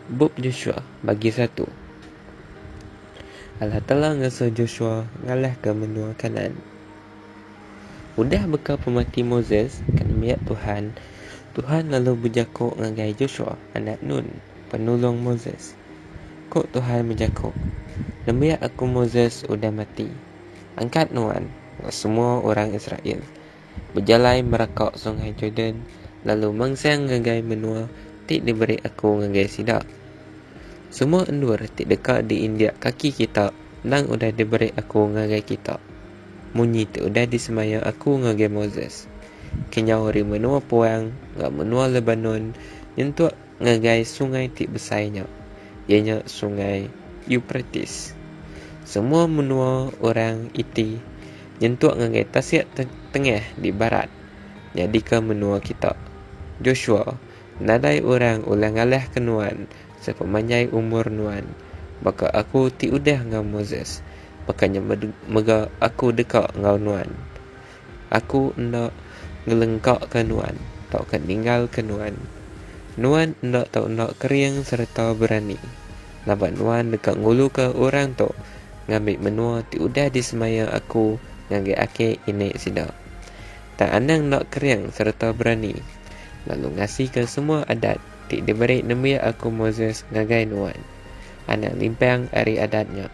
Bup Joshua Bagi satu Allah Taala ngasuh Joshua ngalahka menua Kanaan. Udah beka pemati Moses ke nembiak Tuhan, Tuhan lalu bejako ngagai Joshua anak Nun, penulung Moses. Ko Tuhan bejako, Nembiak Aku Moses udah mati. Angkat nuan enggau semua orang Israel. bejalai meraka Sungai Jordan lalu mansang ngagai menua ti diberi Aku ngagai sida. Semua endur ti deka diinjak kaki kita endang udah diberi Aku ngagai kita, munyi ti udah disemaya Aku ngagai Moses, kenyau ari menua puang enggau menua Lebanon nyentuk Ngagai sungai ti besai nya, iya nya Sungai Euprates. Semua menua orang iti nyentuk ngagai tasik tengah di barat nyadika menua kita. Joshua, nadai orang ulih ngalahka nuan sepemanjai umur nuan. Baka aku ti udah enggau Moses, baka nya mega aku deka enggau nuan. Aku enda ngelengkaka nuan tauka ninggalka nuan. Nuan enda tau enda kering sereta berani, laban nuan deka nguluka orang tu ngambi menua ti udah disemaya Aku ngagai aki inik sida. Tang anang enda kering sereta berani, lalu ngasika semua Adat ti diberi nembiak Aku Moses ngagai nuan. anak limpang ari adat nya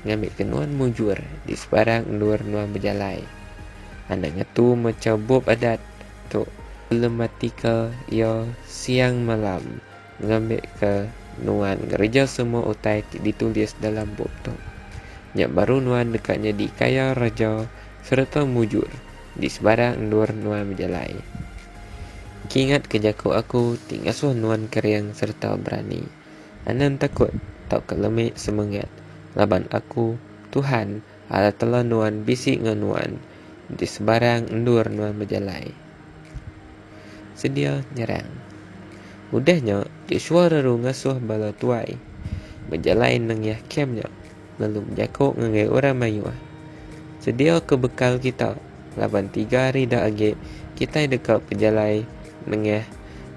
ngambika nuan mujur di sebarang endur nuan bejalai. Anak ngetu mecha bup adat tu belematika iya siang malam ngambika nuan ngereja semua utai ti ditulis dalam bup tu. Nya baru nuan deka nyadi kaya reja sereta mujur di sebarang endur nuan bejalai. Kingatka jaku aku ti ngasuh nuan kering sereta berani. Anang takut tauka lemi semengat laban aku, Tuhan, Allah Telah nuan bisi enggau nuan, enti sebarang endur nuan bejalai. Sedia nyerang. Udah nya, Joshua reru ngasuh bala tuai bejalai nengah kem nya lalu bejako ngagai orang mayuh, Sediaka bekal kita, laban tiga hari dah agi kitai deka bejalai nengah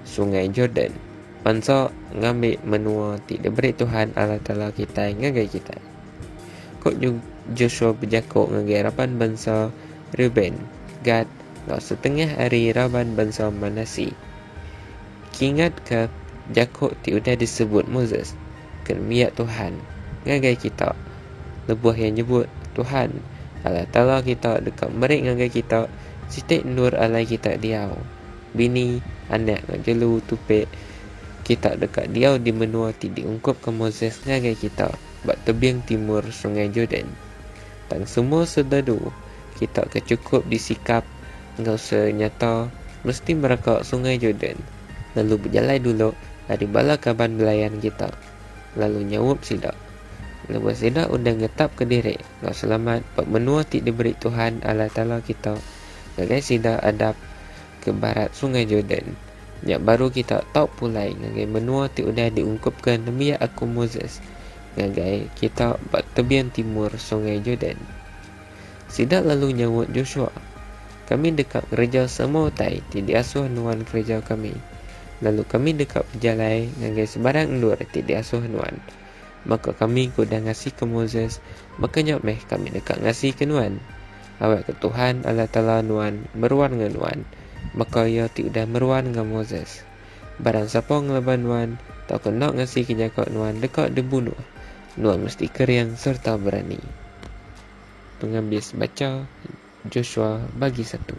Sungai Jordan. Bansa ngambi menua ti diberi Tuhan Allah Taala kitai ngagai kitai. Ku Joshua bejaku ngagai raban bansa Reuben, Gad, enggau setengah ari raban bansa Manasseh, Kingatka jaku ti udah disebut Moses ke nembiak Tuhan ngagai kita lebuh iya nyebut, Tuhan, Allah Taala kita deka meri ngagai kita siti endur alai kita diau. bini, anak enggau jelu tupik kita deka diau di menua ti diungkupka Moses ngagai kita ba tebing timur Sungai Jordan. Tang semua sededu kita ke chukup disikap enggau senyata mesti mereka Sungai Jordan lalu bejalai dulu ari bala kaban belayan kita lalu nyaup sida lebuh sida udah ngetapka diri enggau selamat ba menua ti diberi Tuhan Allah Taala kita ngagai sida adap ke barat Sungai Jordan, nya baru kita tau pulai ngagai menua ti udah diungkupka nembiak aku Moses ngagai kita ba tebian timur Sungai Jordan. Sida lalu nyaut Joshua, Kami deka ngereja semua utai ti diasuh nuan kereja kami, lalu kami deka bejalai ngagai sebarang endur ti diasuh nuan. Baka kami ke udah ngasika Moses, baka nya meh kami deka ngasika nuan. Awak ke Tuhan, Allah Taala nuan, meruan enggau nuan, baka Iya ti udah meruan enggau Moses. Barang sapa ngelaban nuan, tauka enda ngasika jaku nuan deka dibunuh, nuan mesti kering sereta berani. Pengabis bacha Joshua bagi satu.